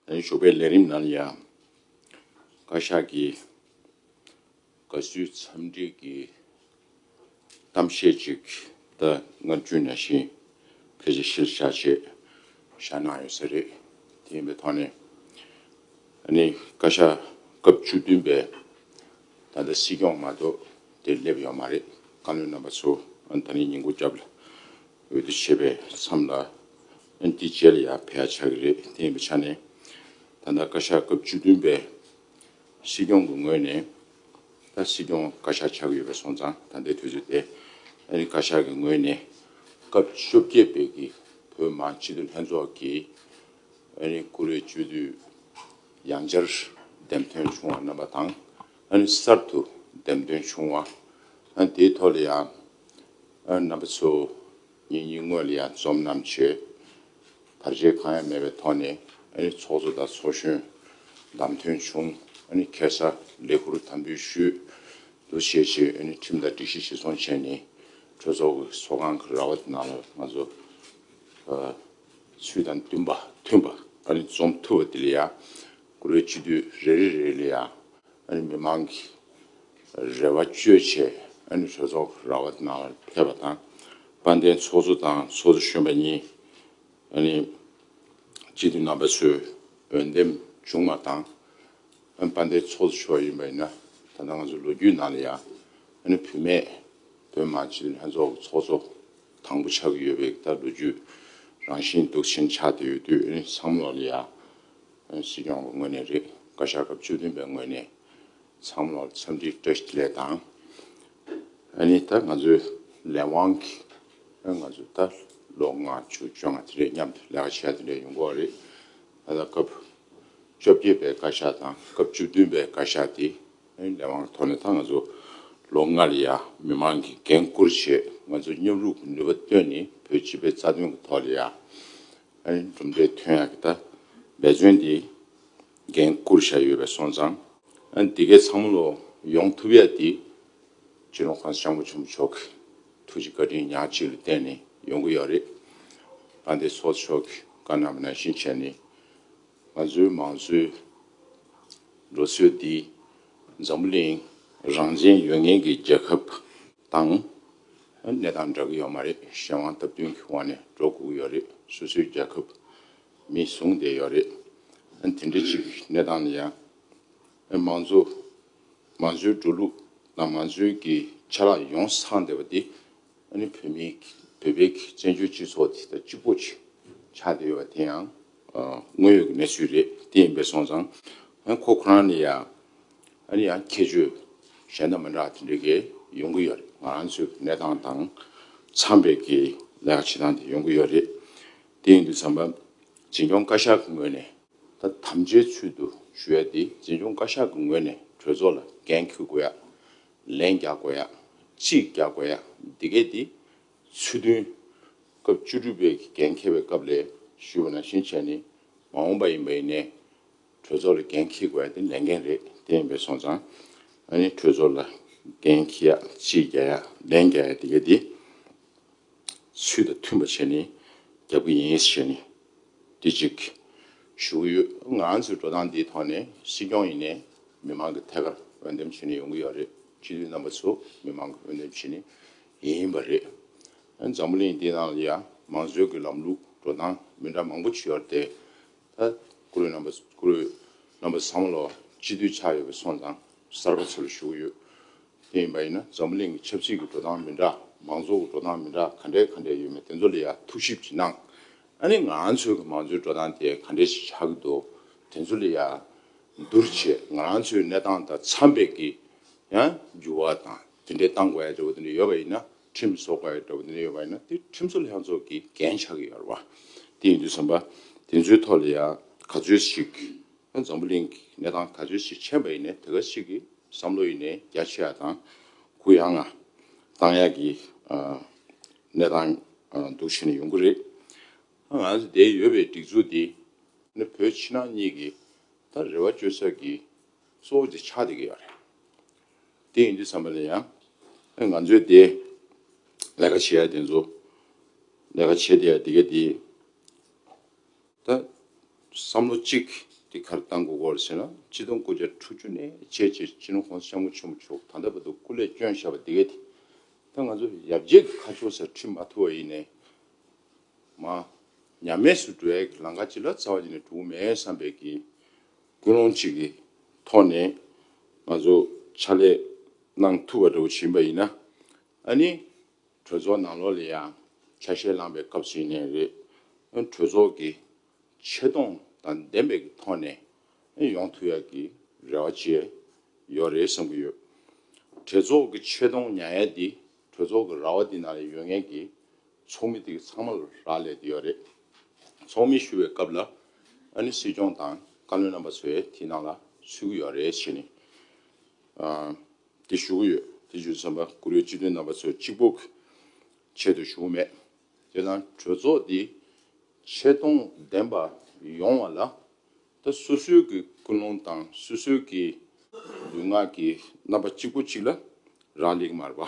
ཞོགས་པའི་ལས་རིམ་ནང་ཡང་བཀའ་ཤག་གིས་དགའ་བསུའི་འཚམས་འདྲི་གི་གཏམ་བཤད་ཅིག་ད་སྔ་བརྒྱུད་ན་བཞིན་ཕལ་ཆེར་གཞིར་བཞག་བྱས་བཞག་གནང་ཡོད་ས་རེད། དེ་ཡིན་པའི་ཐོག་ནས་ནི་བཀའ་ཤག་སྐབས་བཅུ་བདུན་པས་ད་ལྟ་སྲིད་སྐྱོང་མ་གཏོགས་དེར་སླེབས་ཡོད་མ་རེད་བཀའ་བློན་རྣམ་པ་ཚོ་ད་ནི་ཉིན་གུང་སྐྱབས་ལ་འོས་བསྡུ་བྱེད་པའི་མཚམས་ལ་ཨན་ཏི་ཇེ་ལ་ཡ་ཕེ་ཆགས་ཀྱི་རེད་དེ་ཡིན་པའི་ཆ་ནས་ད་ལྟ་བཀའ་ཤག་སྐབས་བཅུ་བདུན་པའི་སྲིད་སྐྱོང་གི་ངོས་ནས་ད་སྲིད་སྐྱོང་བཀའ་ཤག་ཆགས་ཀྱི་ཡོད་པའི་སོང་ཙང་ད་ལྟའི་དུས་ཚོད་དེ་ཨ་རི་བཀའ་ཤག་གི་ངོས་ནས་སྐབས་བཅོ་བརྒྱད་པའི་གི་བོད་མང་སྤྱི་འཐུས་ལྷན་ཚོགས་ཀྱི་ཨ་རི་ཀུ་རེ་བཅུ་དུས་ཡང་བསྐྱར་འདེམས་ཐོན་བྱུང་བ་རྣམ་པ་དང་ཨ་རི་གསར་དུ་འདེམས་ཐོན་བྱུང་བ་ཨན་དེའི་ཐོག་ལ་ཡང། རྣམ་པ་ཚོ། ངེད་གཉིས་དངོས་ལ་ཡང་རྩོམ་རྣམས་བྱོས། བར་ཆད་གང་ཡང་མེད་པའི་ཐོག་ནས་ཚོགས་གཙོ་དང་ཚོགས་གཞོན་བདམས་ཐོན་བྱུང། ཁེ་སར་ལས་ཁུར་དམ་འབུལ་ཞུས། འདུ་བྱས་རྗེས་ཁྲིམས་དང་སྒྲིག་གཞི་བྱེ་ཚོང་བྱས་ནས་གྲོས་ཚོགས་ཀྱི་ཚོགས་ཁང་གི་ར་བ་ནང་ལ་ང་ཚོ་ཚུལ་དང་མཐུན་པ་རྩོམ་ཐུབ་པ་དེ་ལ་ཡང། དགུ་བའི་དཔྱིད་དུས་རེ་རེ་རེ་ལ་ཡང་མི་མང་གི་རེ་བ་བཅོལ་ཆེད་གྲོས་ཚོགས་ར་བ་ནང་ལ་ཕེབས་པ་དང་དཔལ་ལྡན་ཚོགས་གཙོ་དང་ཚོགས་གཙོ་གཞོན་པ་གཉིས་གཅིག་ཏུ་རྣམ་པ་ཚོས་འོས་འདེམས་བྱུང་བ་དང་དཔལ་ལྡན་ཚོགས་གཙོ་མཆོག་ཡིན་པ་ཡིན་ན་ད་ལྟ་ང་ཚོའི་ལོ་རྒྱུས་ནང་ལ་ཡང་བུད་མེད་བོད་མང་སྤྱི་འཐུས་ལྷན་ཚོགས་ཀྱི་ཚོགས་གཙོ་དང་པོ་ཆགས་ཀྱི་ཡོད་པའི་ད་ལོ་རྒྱུས་རང་བཞིན་འདུག་ཕྱིན་ཆགས་དེ་ཡོད་དུས་སང་ལོ་ལ་ཡང་སྲིད་སྐྱོང་གི་ངོས་ནས་རེད། བཀའ་ཤག་སྐབས་བཅུ་བདུན་པའི་ངོས་ནས་ཚང་མ་ལ་འཚམས་འདྲི་བཀྲ་ཤིས་ལེ་དང། ཨ་ནི་ད་ང་ཚོའི་ལས་དབང་གི་ང་ཚོ་ད་ལོ་ལྔ་བཅུ་བཅོ་ལྔ་དེ་འདྲའི་མཉམ་དུ་ལས་ཀ་བྱས་པ་དེ་འདྲའི་ཡོང་གོ་རེད། ད་ལྟ་སྐབས་བཅོ་བརྒྱད་པའི་བཀའ་ཤག་དང་སྐབས་བཅུ་བདུན་པའི་བཀའ་ཤག་དེ་ལས་དབང་གི་ཐོག་ནས་ད་ང་ཚོ་ལོ་ལྔ་ལ་ཡ་མི་མང་གི་འགན་བསྐུར་ཆེད་ང་ཚོ་མཉམ་རུབ་ཀྱི་ནུས་པ་བཏོན་ནས་བོད་སྤྱི་པའི་རྩ་དོན་གྱི་ཐོག་ལ་ཡ་གྲུབ་འབྲས་ཐོན་ཡག་གི་ཐད་འབད་བརྩོན་དེ་འགན་བསྐུར་བཞག་ཡོད་པས་སོང་ཙང། དེ་གའི་ཚང་མ་ལོ་ཡོང་ཐུབ་ཡག་དེ། གཅེས་ནོར་ཁང་ཤང་བུ་ཆེན་པོ་མཆོག་གི་ཐུགས་ཀྱི་བཀའ་དྲིན་ཉག་གཅིག་ལ་བརྟེན་ནས་ཡོང་གི་ཡོད་རེད། ཨ་འདས་ཚོགས་མཆོག་གི་བཀའ་རྣམ་པ་ནང་བཞིན་བྱས་ནས། ང་ཚོའི་མང་གཙོའི་ལོ་ཚོད་འདི་འཛམ་བུ་གླིང་རང་བཙན་ཡོད་ངེས་ཀྱི་རྒྱལ་ཁབ། དང། གནས་སྟངས་འདྲ་གི་ཡོད་མ་རེད་གཞན་དབང་སྟབས་བསྟུན་གི་དབང་ནས་འགྲོ་དགོས་ཡོད་རེད་སོ་སོའི་རྒྱལ་ཁབ་མིས་བཟུང་བསྡད་ཡོད་རེད་དེ་འདྲ་ཅིག་གནས་སྟངས་ནས་ཡང་མང་གཙོ་མང་གཙོའི་འགྲོ་ལུགས་དང་མང་གཙོའི་གི་ཆ་ལག་ཡོངས་སངས་བསྡད་པ་དེ་ནི་བོད་མི་བོད་པའི་གི་བཙན་བྱོལ་སྤྱི་ཚོགས་དེ་ད་གཅིག་པོ་ཆགས་བསྡད་ཡོད་པ་དེ་ཡང་དངོས་ཡོད་གི་གནས་ཚུལ་རེད་དེ་ཡིན་པས་སོང་ཙང་ཁོ་ཁོ་རང་ནས་ཡང། ཨ་ནི་ཡང་ཁྱད་ཆོས་གཞན་དང་མི་འདྲ་བ་དེ་འདྲ་གི་ཡོང་གི་ཡོད་རེད་ང་རང་ཚོའི་གི་གནས་སྟངས་དང་འཚམས་པའི་གི་ལས་ཀ་བྱེད་སྟངས་དེ་ཡོང་གི་ཡོད་རེད། དེ་ཡིན་དུས་བསམ་པ་འཛིན་སྐྱོང་བཀའ་ཤག་གི་ངོས་ནས་ད་དམ་བཅའི་ཚུལ་དུ་ཞུ་ཡ་དེ་འཛིན་སྐྱོང་བཀའ་ཤག་གི་ངོས་ནས་གྲོས་ཚོགས་ལ་འགན་ཁུར་དགོས་ཡ། ལན་རྒྱག་དགོས་ཡ། ཅི་རྒྱག་དགོས་ཡ་འདི་གས་དེ་ཚུལ་བདུན། སྐབས་བཅུ་དྲུག་པའི་གི་འགན་འཁྱེར་བའི་སྐབས་ལས་ཞུས་པ་ནང་བཞིན་བྱས་ནས་མ་འོངས་པ་ཡིན་པ་ཡིན་ནས། གྲོས་ཚོགས་ལ་འགན་འཁྱེར་དགོས་དེ་ལས་འགན་རེད་དེ་ཡིན་པའི་སོང་ཙང་ཨ་ནི་གྲོས་ཚོགས་ལ་འགན་འཁྱེར་ཡག་ཕྱིར་རྒྱག་ཡག་ལན་རྒྱག་ཡག་དེ་ག་དེ་ཚུལ་དང་མཐུན་པ་བྱས་ནས་རྒྱབ་ཀྱི་ཡིན་ཞེས་བཤད་ནས་དེ་གཅིག་ཞུ་གི་ཡོད་ང་ཚོའི་འགྲོ་སྟངས་འདིའི་ཐོག་ནས་སྲིད་སྐྱོང་ཡིན་ནས་མི་མང་གི་ཐད་ཀར་འོས་འདེམས་བྱས་ནས་ཡོང་གི་ཡོད་རེད་སྤྱི་འཐུས་རྣམ་པ་ཚོ་མི་མང་གི་འོས་འདེམས་བྱས་ནས་ཡིན་པ་རེད་འཛམ་བུ་གླིང་འདི་ནང་ལ་ཡང་མང་གཙོའི་གི་ལམ་ལུགས་འགྲོ་སྟངས་མི་འདྲ་མང་པོ་བྱུ་ཡོད་རེད་དེ། ད་ཀུ་རེ་རྣམ་པ་ཀུ་རེ་རྣམ་པ་ས་མོ་ལ་སྤྱི་འཐུས་ཆགས་ཡོད་པའི་སོང་ཙང་གསར་པ་ཚུར་ཞུགས་ཡོད། དེ་ཡིན་པ་ཡིན་ན་འཛམ་བུ་གླིང་གི་ཆབ་སྲིད་ཀྱི་འགྲོ་སྟངས་མི་འདྲ་མང་ཚོགས་ཀྱི་འགྲོ་སྟངས་མི་འདྲ་ག་འདྲའི་ག་འདྲའི་ཡོད་མེད་དེ་ཚོ་ལ་ཡང་ཐུགས་ཞིབ་ཅིག་གནང། ཨ་ནི་ང་ཚོའི་གི་མང་ཚོའི་འགྲོ་སྟངས་དེ་ག་འདྲའི་ཞིག་ཆགས་ཀྱི་འདུག་དེ་ཚོ་ལ་ཡང་བསྡུར་ཆེད་ང་རང་ཚོའི་གནས་སྟངས་དང་འཚམས་པའི་གི་ཡང་འགྱུར་བ་དང་དེ་འདྲའི་གཏང་དགོས་ཡ་འདྲ་བོ་དེ་འདྲ་ཡོད་པ་ཡིན་ན་ཁྲིམས་བཟོ་དགའ་ཡོད་འདྲ་བོ་ནས་ཡོད་པ་ཡིན་ན་དེ་ཁྲིམས་བཟོ་ལྷན་ཚོགས་ཀྱི་འགན་ཆགས་ཀྱི་ཡོད་རེད་བ། དེ་ཡིན་དུས་བསམ་པ་དེ་ཚོའི་ཐོག་ལ་ཡང་ག་ཚོད་ཞིག་འཛམ་བུ་གླིང་གི་གནས་སྟངས་ག་ཚོད་ཞིག་མཁྱེན་པ་ཡིན་ནས་དེ་ག་ཞིག་གི་བསམ་བློ་ཡིན་ནས་རྒྱ་ཆེ་ཡག་དང་གུ་ཡངས་ང་གཏང་ཡག་གི་གནས་སྟངས་འདུག་བྱས་ནས་ཡོང་གི་རེད། ང་ཚོ་འདའི་ཡོད་པའི་སྒྲིག་འཛུགས་འདི་ནི་བོད་ཕྱི་ནང་གཉིས་ཀྱི་ད་རེ་བ་བཅོལ་ས་ཀྱི་གཙོ་བོ་དེ་ཆགས་བསྡད་ཀྱི་ཡོད་རེད། དེ་ཡིན་དུས་བསམ་པ་ལ་ཡང། ཨེ་ང་ཚོས་དེ། ལས་ཀ་བྱེད་ཡ་དེ་ཚོ། ལས་ཀ་བྱེད་དེ་ཡ་དེ་ག་དེ། ད། བསམ་བློ་གཅིག་དེ་གར་བཏང་དགོས་སྐོར་བྱས་ན་སྤྱི་སྟོང་དགུ་བརྒྱ་དྲུག་ཅུ་ནས་བྱས་རྗེས་སྤྱི་ནོར་ཧོང་ཤང་གོ་ཆེན་པོ་མཆོག་ད་ལྟ་བར་དུ་སྐུ་ལས་བསྐྱོན་བཞག་པ་དེ་ག་དེ། ད་ང་ཚོ་ཡབ་རྗེས་ཀྱི་ཁ་ཕྱོགས་སར་ཁྲིད་མ་ཐུབ་བ་ཡིན་ནས། མ། ཉམས་དམས་སུ་འགྲོ་ཡ་གི་ལང་ཀ་ཅི་ལ་རྩ་བ་ཉིད་ནས་གྲུག་མེད་བསམ་པས་ཀྱི། ཀུན་སློང་གཅིག་གི་ཐོག་ནས་ང་ཚོ་ཕྱག་ལས་གནང་ཐུབ་པ་འདྲ་བོ་བྱིན་པ་ཡིན་ན་ཨ་ནི་གྲོས་ཚོགས་ནང་ལོགས་ལས་ཡང་ཆ་ཤས་བླངས་པའི་སྐབས་ཤིག་ནས་རེད། གྲོས་ཚོགས་ཀྱི་ཆེ་མཐོང་དང་ལྡན་པའི་གི་ཐོག་ནས་ཡོང་ཐུབ་ཡག་གི་རེ་བ་བཅས་ཡོད་རེད་བསམ་གི་ཡོད། གྲོས་ཚོགས་ཀྱི་ཆེ་མཐོང་ཉག་ཡ་འདི་གྲོས་ཚོགས་ཀྱི་ར་བ་འདི་ནང་ལས་ཡོད་ངེས་ཀྱི་ཚོགས་མི་དེ་གི་ཚང་མ་ལ་རག་ལས་དེ་ཡོད་རེད། ཚོགས་མི་ཞུ་བའི་སྐབས་ལ་ཨ་ནི་སྲིད་སྐྱོང་དང་བཀའ་བློན་རྣམ་པ་ཚོས་དེ་ནང་ལ་ཚུད་གི་ཡོད་རེད་ཞེས་ནི། དེ་ཞུ་གི་ཡོད་དེ་རྒྱུ་མཚན་པ་གུ་རུའི་སྤྱི་དོན་རྣམ་པ་ཚོས་གཅིག་པོ་གི་ཆེད་དུ་ཞུ་གི་མེད། དེ་ན་གྲོས་ཚོགས་དེ་ཆེ་མཐོང་ལྡན་པ་ཡོང་བ་ལ་ད་སོ་སོའི་གི་ཀུན་སློང་དང་སོ་སོའི་གི་ལུས་ངག་གི་རྣམ་པ་གཅིག་པོ་གཅིག་ལ་རག་ལས་གི་མ་རེད་པ།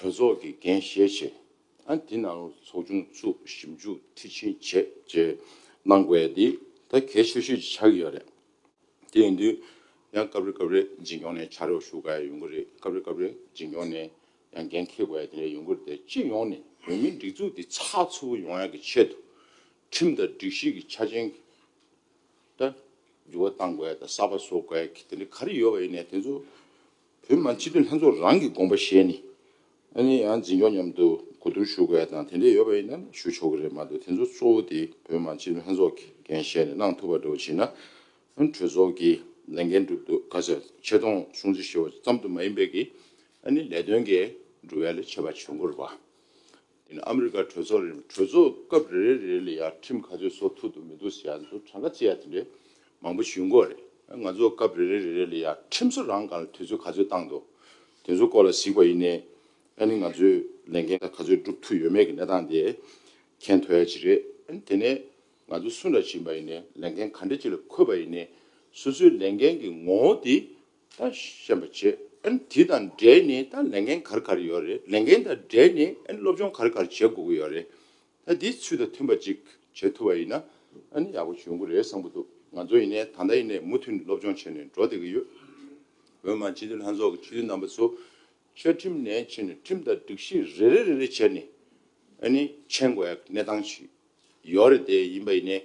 གྲོས་ཚོགས་ཀྱི་འགན་བཞེས་བྱས། དེ་ནང་ཚོགས་ཆུང་བཙུགས་ཞིབ་འཇུག་མཐིལ་ཕྱིན་བྱས་བཅས་གནང་དགོས་འདི་ད་གལ་ཆེ་ཤོས་ཆགས་ཀྱི་ཡོད་རེད། དེ་ཡིན་དུས་ཡང་སྐབས་རེ་སྐབས་རེ་འཛིན་སྐྱོང་ནས་བྱ་རོག་ཞུ་དགའ་ཡོད་གི་རེད་སྐབས་རེ་སྐབས་རེ་འཛིན་སྐྱོང་ནས་ཡང་འགན་འཁེལ་དགོས་ཡ་དེ་རེད་ཡོད་གི་རེད་དེ་སྤྱི་ཡོངས་ནས་བོད་མིའི་སྒྲིག་འཛུགས་འདི་ཚགས་ཚུད་པོ་ཡོང་ཡ་གི་ཆེད་དུ་ཁྲིམས་དང་སྒྲིག་གཞི་གི་ཆ་རྐྱེན་གི་ད་འགྱུར་བ་གཏང་དགོས་ད་གསར་པ་བཟོ་དགོས་གི་དེ་འདྲ་ག་རེ་ཡོད་པ་ཡིན་ནས་དེ་ཚོ་བོད་མང་སྤྱི་འཐུས་ལྷན་ཚོགས་རང་གི་དགོངས་པ་བཞེས་ནས། ཨ་ནི་ཡང་འཛིན་སྐྱོང་མཉམ་དུ་གོ་བསྡུར་ཞུ་དགོས་ཡ་དང་དེ་འདྲས་ཡོད་པ་ཡིན་ན་ཞུ་ཆོག་གི་རེད་མ་གཏོགས་དེ་ཚོ་གཙོ་བོ་དེ་བོད་མང་སྤྱི་འཐུས་ལྷན་ཚོགས་ཀྱི་འགན་བཞེས་ནས་གནང་ཐུབ་པ་འགྲོ་བ་བྱེད་ན། གྲོས་ཚོགས་ཀྱི་ལས་འགན་འགྲུབ་འདུག་ག་ཚད་ཆེ་མཐོང་སྲུང་བརྩི་ཞུ་བ་ཙམ་དུ་མ་ཡིན་པའི་གི་ཨ་ནི་ལས་དོན་གྱི་འགྲུབ་བལ་ཆེ་བ་བྱུང་དགོས་རུ་བ། དེ་ནི་ཨ་མི་རི་ཀར་གྲོས་ཚོགས་རེ་རེ་མ་གྲོས་ཚོགས་སྐབས་རེ་རེ་རེ་ལ་ཡར་ཁྲིམས་ག་ཚོད་བཟོ་ཐུབ་འདུག་མི་འདུག་ཟེར་ཡག་འདུག་གྲངས་ཀ་ཅི་ཡག་དེ་འདྲས་མང་པོ་ཞུས་འགོ་རེད། ང་ཚོ་སྐབས་རེ་རེ་རེ་རེ་ལ་ཡར་ཁྲིམས་བཟོ་རང་གང་ལ་དུས་ཚོད་ག་ཚོད་བཏང་འདུག་དེ་ཚོ་སྐོར་ལ་གཟིགས་པ་ཡིན་ནའི་ཨ་ནི་ང་ཚོས་ལས་འགན་ག་ག་ཚོད་སྒྲུབ་ཐུབ་ཡོད་མེད་ཀྱི་གནས་སྟངས་དེ་མཁྱེན་ཐོ་ཡ་ཅི་རེད། ཨ་ནི་དེ་ནས་ང་ཚོ་སུ་འདྲ་བྱིན་པ་ཡིན་ནའི་ལས་འགན་ག་འདྲ་ཅིག་ལ་འཁོད་པ་ཡིན་ནའི་སོ་སོའི་ལས་འགན་གྱི་ངོ་བོ་དེ་ད་ཤེས་པ་བྱེད་དེ་དང་འབྲེལ་ནས་ད་ལས་འགན་གར་གར་ཡོད་རེད་ལས་འགན་དང་འབྲེལ་ནས་སློབ་སྦྱོང་གར་གར་བྱེད་དགོས་ཀྱི་ཡོད་རེད་ད་དེའི་ཚུལ་དང་མཐུན་པ་ཅིག་བྱེད་ཐུབ་པ་ཡིན་ན་ཡག་པོ་བྱུང་གི་རེད་བསམ་གྱི་འདུག་ང་ཚོ་ཡིན་ནས་ད་ལྟ་ཡིན་ནས་མུ་མཐུད་ནས་སློབ་སྦྱོང་བྱས་ནས་འགྲོ་བསྡད་ཀྱི་ཡོད། འོན་མ་སྤྱི་འཐུས་ལྷན་ཚོགས་ཀྱི་ཕྱི་དྲིལ་རྣམ་པ་ཚོ་བཅའ་ཁྲིམས་ནས་ཕྱི་ནས་ཁྲིམས་དང་སྒྲིག་གཞི་རེ་རེ་རེ་རེ་བྱས་ནས་མཆན་འགོད་གནས་སྟངས་ཤིག་ཡོད་རེད་དེ་ཡིན་པ་ཡིན་ནས་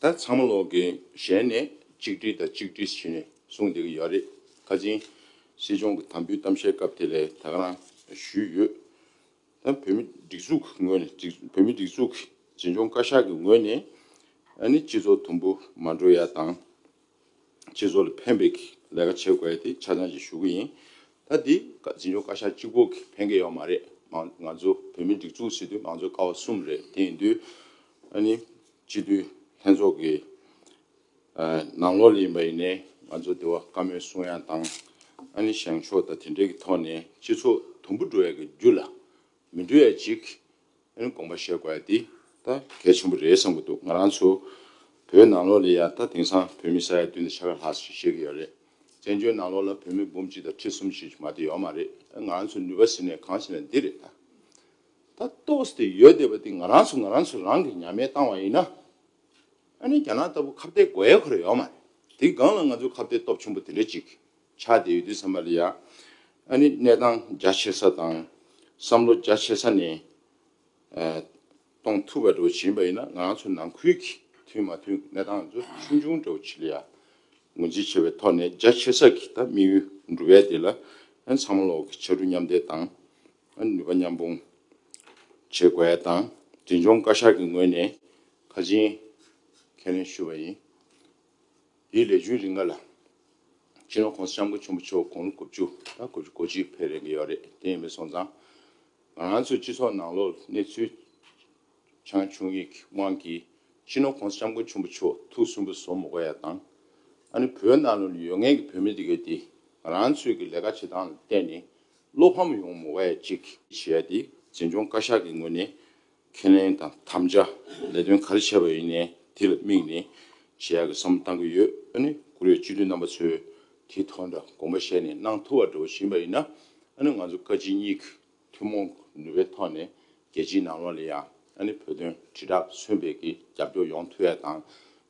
ད་ཚང་མ་ལོག་གི་ཞལ་ནས་གཅིག་བྲིས་དང་གཅིག་བྲིས་བྱས་ནས་གསུང་བསྡད་ཀྱི་ཡོད་རེད་ཁ་ཆེན་སྲིད་སྐྱོང་གི་དམ་འབུལ་གཏམ་བཤད་སྐབས་དེ་ལས་ཐག་རང་ཞུས་ཡོད་ད་བོད་མི་སྒྲིག་འཛུགས་ཀྱི་ངོས་ནས་བོད་མི་སྒྲིག་འཛུགས་ཀྱི་འཛིན་སྐྱོང་བཀའ་ཤག་གི་ངོས་ནས་ནི་སྤྱི་ཚོགས་དུམ་བུ་མ་འགྲོ་ཡ་དང། སྤྱི་ཚོགས་ལ་ཕན་པའི་ལས་ཀ་བྱེད་དགོས་དེ་ཆ་ཚང་ཞིག་ཞུ་གི་ཡིན། ད་དེ་འཛིན་སྐྱོང་བཀའ་ཤག་གཅིག་པོ་གི་ཕན་ཁེ་ཡོད་མ་རེད། ང་ཚོ་བོད་མི་སྒྲིག་འཛུགས་སྲིད་དོན་མང་གཙོའི་ཀ་བ་གསུམ་རེད་དེ་ཡིན་དུས། ཨ་ནི་སྤྱི་འཐུས་ལྷན་ཚོགས་ཀྱི་ནང་ལོགས་ལ་ཡིན་པ་ཡིན་ནའི་ང་ཚོ་དེ་བ་བཀའ་མོལ་གསུང་ཡང་བཏང། ཨ་ནི་བཞེངས་ཕྱོགས་དང་དེ་འབྲེལ་གྱི་ཐོག་ནས་སྤྱི་ཚོགས་དུམ་བུ་འགྲོ་ཡག་གི་རྒྱུ་ལ་མི་འདུག་ཨེ་ཅིག། ཨེ་ནི་དགོངས་པ་བཞེས་དགོས་ཨེ་འདི་ད་གལ་ཆེན་པོ་རེད་བསམ་གི་འདུག་ང་རང་ཚོ་བོད་ནང་ལོགས་ལས་ཡ་ད་དེང་སང་བོད་མི་ས་ཡ་བདུན་དང་ཆ་ག་ལྷག་ཞིག་བཞེས་གི་ཡོད་རེད་བཙན་བྱོལ་ནང་ལོགས་ལ་བོད་མི་འབུམ་གཅིག་དང་ཁྲི་གསུམ་ཞིག་མ་དེ་ཡོད་མ་རེད་ཨེ་ང་རང་ཚོའི་ནུས་པ་ཟེར་ནས་གང་བྱེད་ན་འདི་རེད་ད་ད་གཏོགས་དེ་ཡོད་བསྡད་པ་དེ་ང་རང་ཚོ་ང་རང་ཚོ་རང་གི་ཉམས་མེད་བཏང་བ་ཡིན་ན་ཨེ་ནི་རྒྱ་ནག་ལྟ་བུ་ཁ་བརྡའི་དགོས་ཡས་ཁོ་ར་ཡོད་མ་རེད་དེ་སྒང་ལ་ང་ཚོའི་ཁ་བརྡའི་སྟོབས་ཆེན་པོ་དེ་འདྲ་ཅིག་ཆ་དེ་ཡོད་དུས་ཚང་མ་ལ་ཡ་ཨ་ནི་གནས་སྟངས་རྒྱ་ཆེ་ས་དང་བསམ་བློ་རྒྱ་ཆེ་ས་ནས་གཏོང་ཐུབ་པ་འདྲ་བོ་བྱེད་པ་ཡིན་ན་ང་ཚོ་ནང་ཁུལ་གྱི་མཐུན་མ་མཐུན་གྱི་གནས་སྟངས་ཚོ་ཆུང་ཆུང་འདྲ་བོ་བྱེད་ལ་ཡ། ངོས་འཛིན་བྱེད་པའི་ཐོག་ནས་རྒྱ་ཆེ་ས་ཀྱི་ད་དམིགས་ཡུལ་འགྲུབ་ཡ་དེ་ལ་ཚང་མ་ལོག་གི་ཕྱར་གྲུ་མཉམ་འདེགས་དང་ནུས་པ་མཉམ་སྤུངས་བྱེད་དགོས་ཡ་དང་འབྲིང་ཆུང་བཀའ་ཤག་གི་ངོས་ནས་ཁ་འབྱིན་ཁས་ལེན་ཞུ་བ་ཡིན། དེའི་ལས་བྱུང་རིགས་ལྔ་ལ། ཕྱི་རོལ་ཁོང་ས་ཤམ་བུ་ཆེན་པོ་མཆོག་དགུང་ལོ་དགུ་བཅུ་དང་དགུ་བཅུ་གོ་གཅིག་ཕེབས་རེ་འགས་ཡོད་རེད་དེ་ཡིན་པའི་སོང་ཙང། ང་རང་ཚོའི་སྤྱི་ཚོགས་ནང་ལོག་གནས་ཚུལ་ཆང་ཆུང་ཡིག་གི་དབང་གིས་ཕྱི་རོལ་ཁོང་ས་ཤམ་བུ་ཆེན་པོ་མཆོག་ཐུགས་གསུམ་པོ་བཟོ་མི་གོ་ཡ་དང། ཨ་ནི་བོད་ནང་ལོག་ནས་ཡོད་ངེས་ཀྱི་བོད་མི་དེ་གའི་དེ་ང་རང་ཚོའི་གི་ལས་ཀ་བྱེད་སྟངས་ལ་བལྟས་ནས་བློ་ཕམ་ཡོང་མི་གོ་ཡ་གཅིག། བྱས་ཡ་དེ་འཛིན་སྐྱོང་བཀའ་ཤག་གི་ངོས་ནས་ཁས་ལེན་དང་དམ་བཅའ་ལས་དོན་ག་རེ་བྱས་པ་ཡིན་ནས་དེ་ལ་དམིགས་ནས་བྱེད་ཡག་གི་བསམ་བློ་གཏང་གི་ཡོད་ཨ་ནི་ཀུ་རེ་སྤྱི་འཐུས་རྣམ་པ་ཚོས་དེ་ཐོག་འདྲ་དགོངས་པ་བཞེས་ནས་གནང་ཐུབ་བ་འདྲ་བོ་བྱིན་པ་ཡིན་ན་ཨ་ནི་ང་ཚོ་བཀའ་སྤྱི་གཉིས་ཀྱི་ཐུན་མོང་གི་ནུས་པའི་ཐོག་ནས་རྒྱལ་སྤྱིའི་ནང་ལོགས་ལ་ཡང་ཨ་ནི་བོད་དོན་དྲིལ་བསྒྲགས་མཚོན་སྤེལ་གྱི་རྒྱབ་སྐྱོར་ཡོང་ཐུབ་ཡ་དང་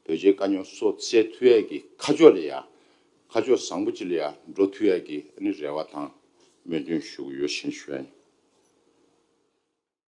བོད་རྗེ་བཀའ་རྙོག་སོགས་བསལ་ཐུབ་ཡ་གི་ཁ་ཕྱོགས་ལ་ཡང་ཁ་ཕྱོགས་བཟང་པོ་ཅིག་ལ་ཡང་འགྲོ་ཐུབ་ཡ་གི་ཨ་ནི་རེ་བ་དང་སྨོན་འདུན་ཞུ་གི་ཡོད་བཞིན་བཤད།